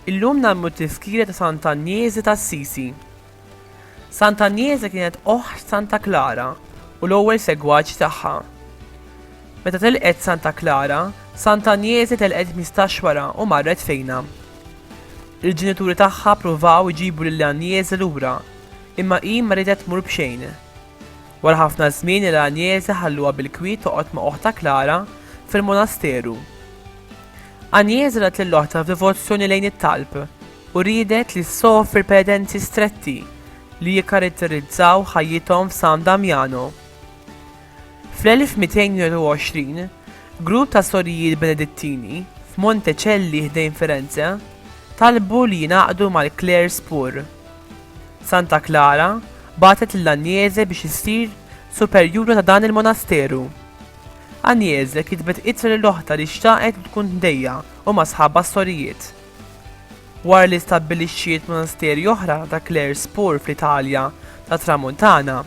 Illum nagħmlu t-tiskira ta' Sant'Anjezi ta' Sisi. Sant'Anjezi kienet oħt Santa Klara u l-ewwel segwaċ tagħha. Meta telqet Santa Klara, Sant'Anjezi telqet mistaxwara u marret fejna. Il-ġenituri tagħha ppruvaw iġibu lil Agnese lura, imma hi ma riedet tmur b'xejn. Wara ħafna żmien il Agnese ħalluha bil-kwiet toqgħod ma' oħtha Klara fil-monasteru. Agnese rat lil oħtha f'devozzjoni lejn it-talb u riedet li ssofri penitenzi stretti li jikkaratterizzaw ħajjithom f'San Damiano. Fl-1222, grupp ta' sorijiet Benedittini, f'Monte Celli ħdejn Firenze, talbu li jingħaqdu mal-klers pur. Santa Klara bagħtet lil Agnese biex issir superjura ta' dan il-monasteru. Agnese kitbet ittra lil oħtha li xtaqet li tkun tdejja u ma' sħabha s-sorijiet. Wara li stabbilixxiet monasteri oħra ta' Clares Pur fl-Italja tat-Tramuntana,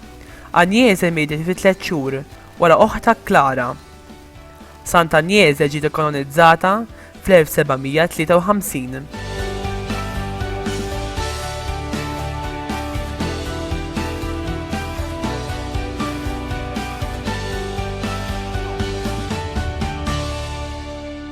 Agnese mietet fi tliet xhur wara oħtha Klara. Sant Agnese ġiet ikkanonizzata fl-1753.